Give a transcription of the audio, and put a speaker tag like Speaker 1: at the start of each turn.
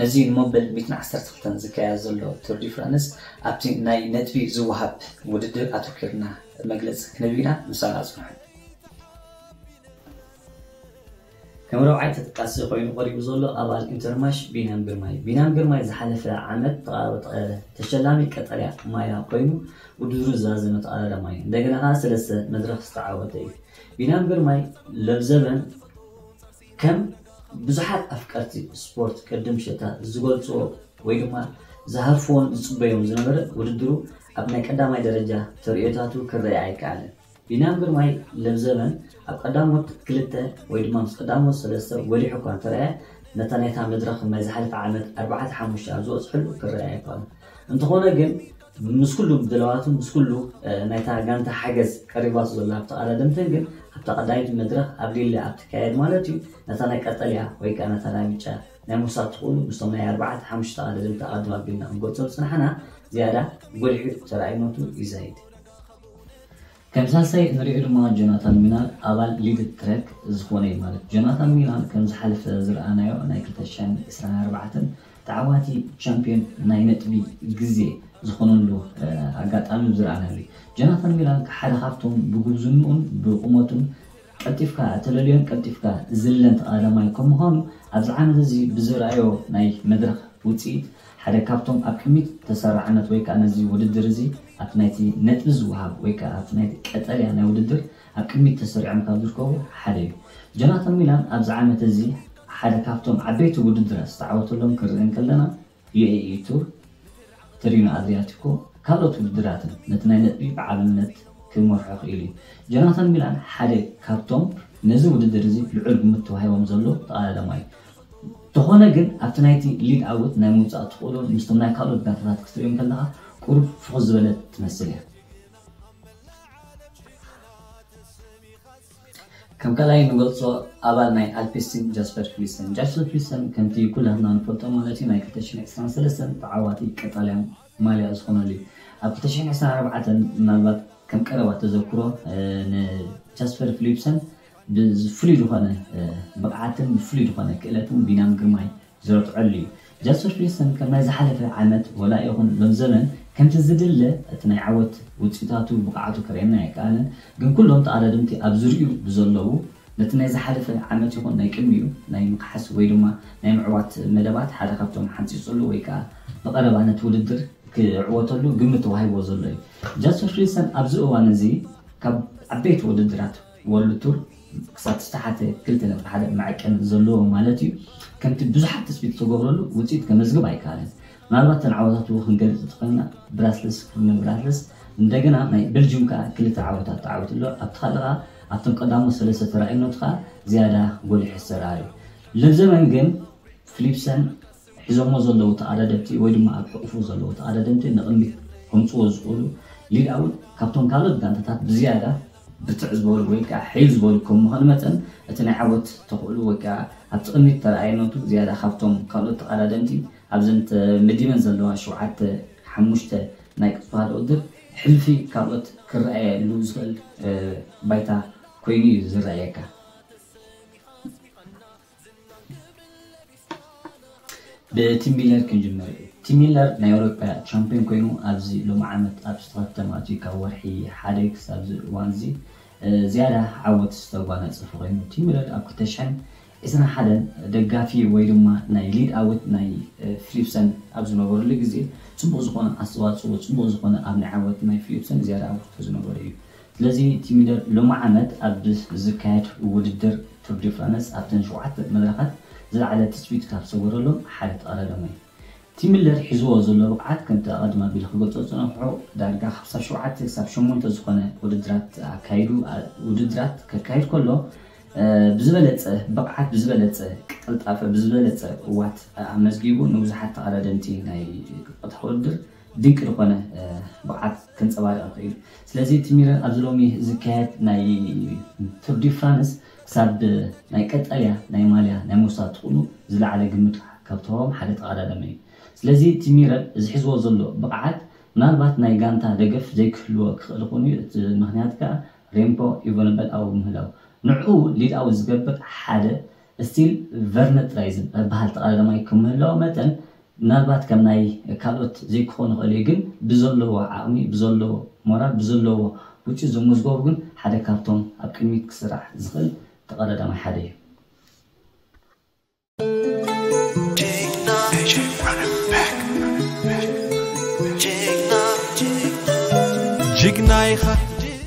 Speaker 1: ነዚ ንመበል ሚእትን ዓሰርተ ክልተን ዝካየድ ዘሎ ቱር ዲ ፍራንስ ኣብቲ ናይ ነጥቢ ዝወሃብ ውድድር ኣተኲርና መግለጺ ክንህብ ኢና፣ ምሳና ጽንሑ። ከም ራብዓይ ተጠቃሲ ኮይኑ ቀሪቡ ዘሎ ኣባል ኢንተርማሽ ቢንያም ግርማይ እዩ። ቢንያም ግርማይ ዝሓለፈ ዓመት ተቐዳዳሪ ተሸላሚ ቀጠልያ ማያ ኮይኑ ውድድሩ ዝዛዘመ ተቐዳዳሪ ማያ እንደገና ከኣ ሰለስተ መድረኽ ዝተዓወተ እዩ። ቢንያም ግርማይ ለብዘበን ከም ብዙሓት ኣፍቀርቲ ስፖርት ቅድም ሸታ ዝገልጽዎ ወይ ድማ ዝሃርፍዎን ዝጽበዮን ዝነበረ ውድድሩ ኣብ ናይ ቀዳማይ ደረጃ ተርእዮታቱ ክረኤ ኣይከኣለን። ቢንያም ግርማይ ለብዘበን ኣብ ቀዳሞት ክልተ ወይ ድማ ምስ ቀዳሞት ሰለስተ ጎሊሑ እኳ እንተረኣየ ነታ ናይታ መድረኽ ናይ ዝሓለፈ ዓመት ኣርባዕተ ሓሙሽተ ኣብ ዝበጽሕሉ ክረኤ ኣይከኣሉን። እንተኾነ ግን ምስ ኩሉ ድላዋትን ምስ ኩሉ ናይታ ጋንታ ሓገዝ ቀሪባቶ ዘላ ተቐዳደምትን ግን ኣብታ ቀዳመይቲ መድረኽ ኣብ ሊለ ኣብ ትካየድ ማለት እዩ ነታ ናይ ቀጠልያ ወይ ከኣ ነታ ናይ ብጫ ናይ ምውሳድ ትኽእሉ ምስቶም ናይ ኣርባዕተ ሓሙሽተ ተቐዳደምቲ ኣቐድም ኣቢልና ክንገልጾም ዝጸናሕና ዝያዳ ጎሊሑ ተራእይነቱ ይዛይድ። ከም ሳልሳይ እንሪኦ ድማ ጆናታን ሚናር ኣባል ሊድ ትረክ ዝኾነ እዩ ማለት ጆናታን ሚናር ከም ዝሓለፈ ዝረኣናዮ ናይ ክልተ ሽሕን ዕስራን ኣርባዕተን ተዓዋቲ ቻምፕዮን ናይ ነጥቢ ግዜ ዝኾነሉ ኣጋጣሚ ዝረኣናሉ እዩ ጆናታን ሚናር ሓደ ካብቶም ብጉብዝንኡን ብቁመቱን ቀልጢፍካ እተለልዮን ቀልጢፍካ ዝልለን ተቓዳማይ ከም ምዃኑ፣ ኣብዚ ዓመት እዚ ብዝርኣዮ ናይ መድረኽ ውጽኢት፣ ሓደ ካብቶም ኣብ ቅድሚት ተሰራዕነት ወይ ከኣ ነዚ ውድድር እዚ ኣብቲ ናይቲ ነጥቢ ዝወሃብ ወይ ከኣ ኣብቲ ናይቲ ቀጠልያ ናይ ውድድር ኣብ ቅድሚት ተሰሪዖም ካብ ዝርከቡ ሓደ እዩ። ጆናታን ሚላን ኣብዚ ዓመት እዚ ሓደ ካብቶም ዓበይቲ ውድድራት ዝተዓወተሎም ክንርኢ እንከለና፣ ዩኤኢ ቱር ተሪኖ ኣድሪያቲኮ ካልኦት ውድድራትን ነቲ ናይ ነጥቢ ብዓልነት ክመርሖ ክኢሉ እዩ። ጆናታን ሚላን ሓደ ካብቶም ነዚ ውድድር እዚ ልዑል ግምት ተዋሂቦም ዘሎ ተቐዳዳማይ እዩ። እንተኾነ ግን ኣብቲ ናይቲ ሊድ ኣውት ናይ ምውጻእ ተኽእሎ ምስቶም ናይ ካልኦት ጋንታታት ክትርእዮ እንከለኻ ቁሩብ ፍኹስ ዝበለት ትመስል እያ። ከም ካልኣይ እንገልጾ ኣባል ናይ ኣልፒስቲን ጃስፐር ፍሊስተን። ጃስፐር ፍሊስተን ከምቲ ኩላትና ንፈልጦ ማለት እዩ ናይ ክልተ ሽሕን ዕስራን ሰለስተን ተዓዋቲ ቀጣልያን ማልያ ዝኾነሉ እዩ። ኣብ ክልተ ሽሕን ዕስራን ኣርባዕተን ምናልባት ከም ቀረባ ተዘክሮ ንጃስፐር ፍሊፕሰን ብፍሉይ ዝኾነ ብቕዓትን ብፍሉይ ዝኾነ ክእለትን ቢንያም ግርማይ ዝረትዐሉ እዩ። ጃስፐር ፒርሰን ከም ናይ ዝሓለፈ ዓመት ወላ ይኹን ሎሚ ዘበን ከምቲ ዝድለ እቲ ናይ ዓወት ውጽኢታቱ ብቕዓቱ ከርእየና ኣይከኣለን ግን ኩሎም ተቐዳደምቲ ኣብ ዙርይኡ ብዘለዉ ነቲ ናይ ዝሓለፈ ዓመት ይኹን ናይ ቅድሚኡ ናይ ምክሓስ ወይ ድማ ናይ ምዕዋት መደባት ሓደ ካብቶም ሓንጺጹሉ ወይ ከኣ ብቐረባ ነቲ ውድድር ክዕወተሉ ግምት ተዋሂብዎ ዘሎ እዩ። ጃስፐር ፒርሰን ኣብዚ እዋን እዚ ካብ ዓበይቲ ውድድራት ወርልድ ቱር ክሳብ ዝተሓተ ክልተ ነጥቢ ሓደ መዐቀኒ ዘለዎ ማለት እዩ ከምቲ ብዙሓት ትፅቢት ዝተገብረሉ ውፅኢት ከመዝግብ ኣይከኣለን። ምናልባት እተን ዓወታቱ ክንገልፅ እንተኾይንና ብራስለስ ኩርነ ብራስለስ እንደገና ናይ በልጅዩም ከዓ ክልተ ዓወታት ተዓዊቱ ኣሎ ኣብቲ ካሊእ ከዓ ኣብቶም ቀዳሞት ሰለስተ ተራእዩነቱ ከዓ ዝያዳ ጎሊሑ ዝተርኣዩ ለብዘመን ግን ፍሊፕሰን ሒዞሞ ዘለዉ ተኣዳደምቲ ወይ ድማ ኣብ ሕቑፉ ዘለዉ ተኣዳደምቲ ንቕድሚት ከምጽዎ ዝኽእሉ ሊድ ኣውል ካብቶም ካልኦት ጋንታታት ብዝያዳ ብርትዕ ዝበሉ ወይ ከኣ ሕይል ዝበሉ ከም ምዃኑ መጠን እቲ ናይ ዓወት ተኽእሉ ወይ ከኣ ኣብቲ ቅድሚት ተረኣይነቱ ዝያዳ ካብቶም ካልኦት ተቐዳደምቲ ኣብዘን ተመዲበን ዘለዋ ሸውዓተ ሓሙሽተ ናይ ቅጽበታዊ ውድድር ሕልፊ ካልኦት ክረኣየሉ ዝኽእል ባይታ ኮይኑ እዩ ዝረኣየካ። ብቲም ሚለር ክንጅምር። ቲም ሚለር ናይ ኣውሮጳ ቻምፕዮን ኮይኑ ኣብዚ ሎሚ ዓመት ኣብ ዝተኸተመ ኣትዩ ካብ ወርሒ ሓደ ክሳብዚ እዋንዚ ዝያዳ ዓወት ዝተጓናጸፈ ኮይኑ ቲም ሚለር ኣብ ክልተ ሽሕን ዕስራን ሓደን ደጋፊ ወይ ድማ ናይ ሊድ ኣውት ናይ ፍሊፕሰን ኣብ ዝነበረሉ ግዜ ጽቡቕ ዝኾነ ኣስተዋጽኦ ጽቡቕ ዝኾነ ኣብ ናይ ዓወት ናይ ፍሊፕሰን ዝያዳ ኣበርክቶ ዝነበሮ እዩ ስለዚ ቲሚደር ሎሚ ዓመት ኣብ ዝካየድ ውድድር ቱር ዲ ፍራነስ ኣብተን ሸውዓተ መድረኻት ዝለዓለ ትጽቢት ካብ ዝሰገረሎም ሓደ ተቐዳዳማይ እዩ። ቲሚለር ሒዝዎ ዘሎ ብቕዓት ከምቲ ኣቐድም ኣቢለ ክገልጾ ዝጸናሕኩ ዳርጋ ሓምሳ ሸውዓተ ክሳብ ሸሞንተ ዝኾነ ውድድራት ኣካይዱ ውድድራት ከካይድ ከሎ ብዝበለጸ ብቕዓት ብዝበለጸ ቅልጣፈ ብዝበለጸ ቅዋት ኣመዝጊቡ ንብዙሓት ተቐዳደምቲ ናይ ቀጥታ ውድድር ድንቂ ዝኾነ ብቕዓት ከንጸባርቕ ይኽእል እዩ። ስለዚ እቲ ሚረር ኣብዚ ሎሚ ዝካየድ ናይ ቱር ዲ ፍራንስ ክሳብ ናይ ቀጠልያ ናይ ማልያ ናይ ምውሳድ ትኹኑ ዝለዓለ ግምት ካብ ተዋህቦም ሓደ ተቐዳዳማይ እዩ። ስለዚ እቲ ሚረር ዝሕዝዎ ዘሎ ብቕዓት ምናልባት ናይ ጋንታ ደገፍ ዘይክህልዎ ክኽእል ይኹን እዩ እቲ ምኽንያት ከኣ ሬምፖ ኢቨንበል ኣብኡ ምህላው ንዕኡ ሊድ ኣውት ዝገብር ሓደ ስቲል ቨርነትራይዝን እበሃል ተቓላሊ ማይ ከም ምህላዉ መጠን ምናልባት ከም ናይ ካልኦት ዘይክኾን ይኽእል እዩ ግን ብዘለዎ ዓቕሚ ብዘለዎ ሞራል ብዘለዎ ውጽኢት ዘመዝገቡ ግን ሓደ ካብቶም ኣብ ቅድሚት ክስራሕ ዝኽእል ተቓላሊ ማይ ሓደ እዩ። ጅግና
Speaker 2: ኢኻ ጅግና።